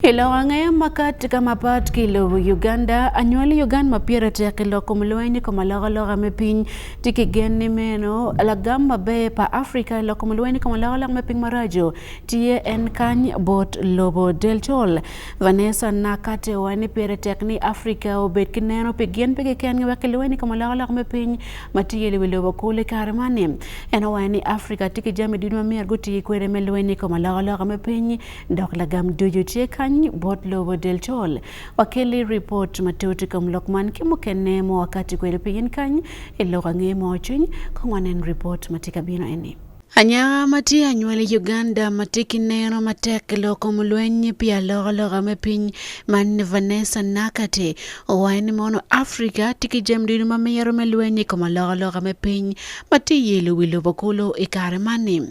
I lok angaya makat ka mapat ki i lobo Uganda, anywal i Ugan ma pire tek i lok kom lweny i kom alokaloka me piny. Tye ki gen ni meno lagam maber pa Afrika i lok kom lweny i kom alokaloka me piny maraco tye en kany bot lobo. Del Col, Vanessa Nakate wa ni pire tek ni Afrika obed ki neno pi gin pigi kengi wek ki lweny i kom alokaloka me piny ma tye i wi lobo kulu i kare man ni. En owayo ni Afrika tye ki jami ducu ma myero guti kwede me lweny i kom alokaloka me piny Dok lagam ducu tye kany bot lobo deltol. Wakelli ripot matut i kom lok man ki mukene ma wakatti kwede pigin kany i lok ange mo cwiny. Kong wanen ripot ma tye ka bino eni. Anyaka ma tye anywali i Uganda ma tye ki neno matek i lok kom lweny pi alokaloka me piny ma Vanessa Nakate owaco ni mono Africa tye ki jami ducu ma mito me lweny i kom alokaloka me piny ma tye yelo wi lobo kulu i kare man-ni.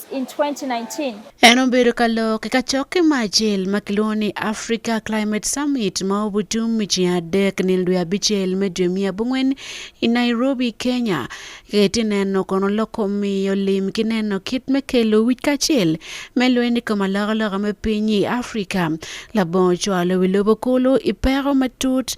in 2019. En obedo ka lok i kacokke mo acel ma kilwongo ni Africa Climate Summit ma obutum i ceng adek nino dwe abicel me dwe miya abongwen i Nairobi, Kenya. Ka itye neno kono lok kom miyo lim ki neno kit me kelo wic kacel me lweny i kom alokaloka me piny i Africa labongo cwalo wi lobo kulu i peko matut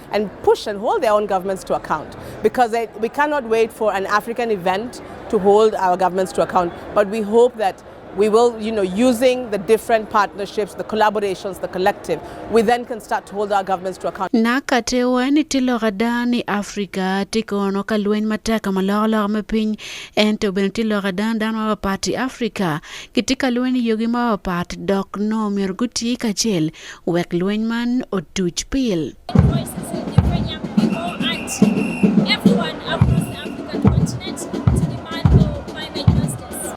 Nakate wa ni tye lok ada ni Africa tye kono ka lweny matek ka ma loko loka me piny, ento bene tye lok ada ni dano mapatpat i Africa gitye ka lweny i yogi mapatpat dok nongo myero guti kacel wek lweny man otuc pil.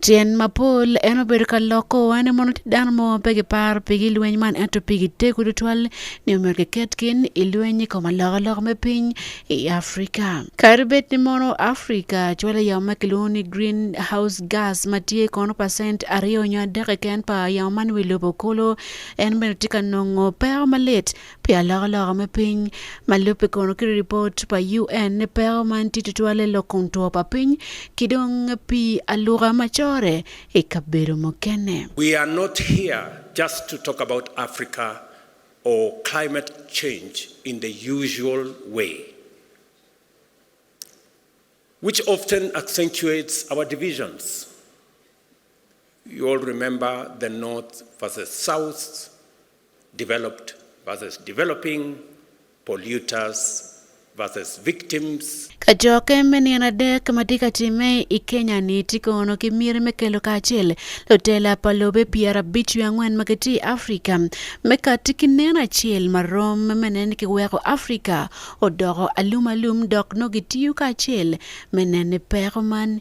Tyen mapol en obedo ka loko wa ni mono tye dano mo ma pe giparo pigi lweny man ento pigi tego tutwal ni omyero kiket gin i lweny i kom alokaloka me piny i Africa. Kadi bed ni mono Africa cwalo yamo ma kilwongo ni green house gas ma tye kono pacent aryo nyo adek keken pa yamo man wi lobo kolo, En bene tye ka nongo peko malit pi alokaloka me piny ma lubbe kono ki ripot pa UN ni peko man tye tutwalle lok kom two pa piny ki dong pii aluka ma corre i kabedo mukene. We are not here just to talk about Africa or climate change in the usual way which often accentuates our divisions. You all remember the North versus South, developed versus developing, polluters versus victims. Kacokke me nino adek ma tye ka timme i Kenya-ni tye kono ki miti me kelo kacel lutela pa lobe pyerabic wiye angwen ma gitye i Afrika me kati ki neno acel ma rom me neno ni kiweko Afrika odoko alumalum dok nongo gitiyo kacel me neno ni peko man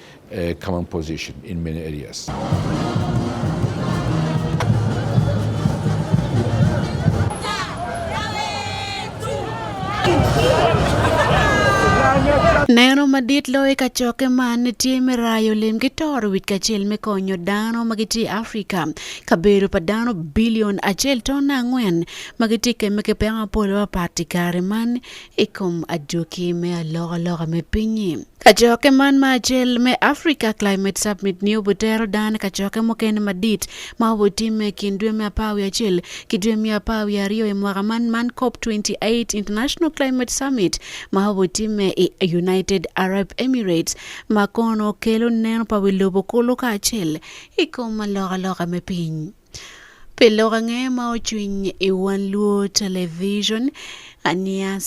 a common position in many areas. Neno madit loyo i kacokke man tye me rayo lim ki toro wic kacel me konyo dano ma gitye i Afrika, kabedo pa dano bilion acel tona angwen ma gitye kemme ki peko mapol mapat i kare man i kom adwoki me alokaloka me piny-nyi. Kacokke man ma acel me Africa Climate Summit-ni obitero dano i kacokke mukene madit ma obitimme i kin dwe me apar wiye acel ki dwe me apar wiye aryo i mwaka man, man COP twenty eight International Climate Summit ma obitimme i United Arab Emirates ma kono kelo neno pa wi lobo kulu kacel i kom alokaloka me piny. Pi lok ange ma ocwiny i Wan Luo Television, Aniya.